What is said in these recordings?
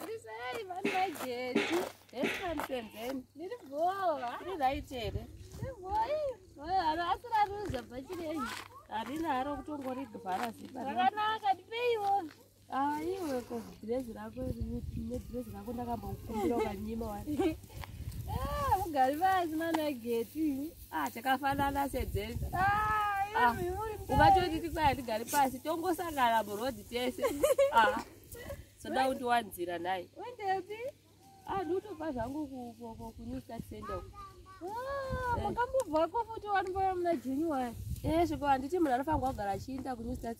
Ndisai vanhu vajetu. Esansemben. Ndiri bhowa. Ndiri right here? Ndiri bhowa. Oyo ano asira ruza bhachi renyu. Harina haro kutongori bhara zipa. Rakanaka ndipeiwo. Ah, iwe ko dress rako ne dress rako ndakambokumbira ukanyima wani. Ah, ugari vazi mana geti. ah chakafanana sedzeni ah, ah ukatoti tikwaya ndigari pasi tongosangana murodi tese ah soda kuti wanzira nhai wendepi ah ndikutopa zvangu kunew start center ah, eh. makambobvako futi wani paya muna january eh zviko handiti munhu anofanirwa kugara achiinda kunew start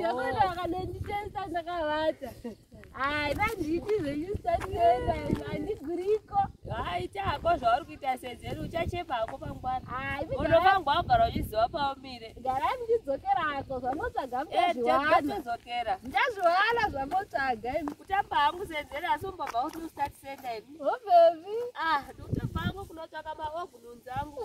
Yabona akalenditesa ndakavata. Hayi vanditi zvenyusatenda andiguriko. Hayi chako zvauri kuita sedzeni uchachepa hako pangwana. Hayi unofamba wagara uchiziva paumire. Gara ndichidzokera hako zvamotsvaga eh, muchazviwana. Ndichadzokera. Ndichazviwana zvamotsvaga. Kutamba hangu sedzeni asi umbobva kuti usati senda ini. Hobebi. Ah, ndikutamba hangu kunotsvaka maogununzi angu.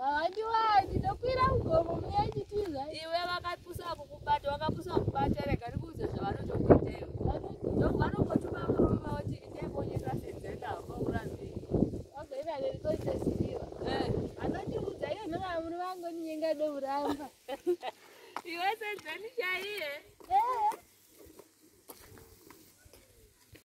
Hawandiwani, ndokwira mugomo munyanyitiza. Iwe vakapusa kukubata, wakapusa kukubata, rega ndikuudze zvavanotokuita iwe. Ndoku vanongotuma murume vauti itai bonye tasenzei navo vaurambei. Wagoiva lerikoite ziviwa. Eh, Anondiudza iye nhanga murume angoninyenga douramba. iwe senzeni chaiye. Eh.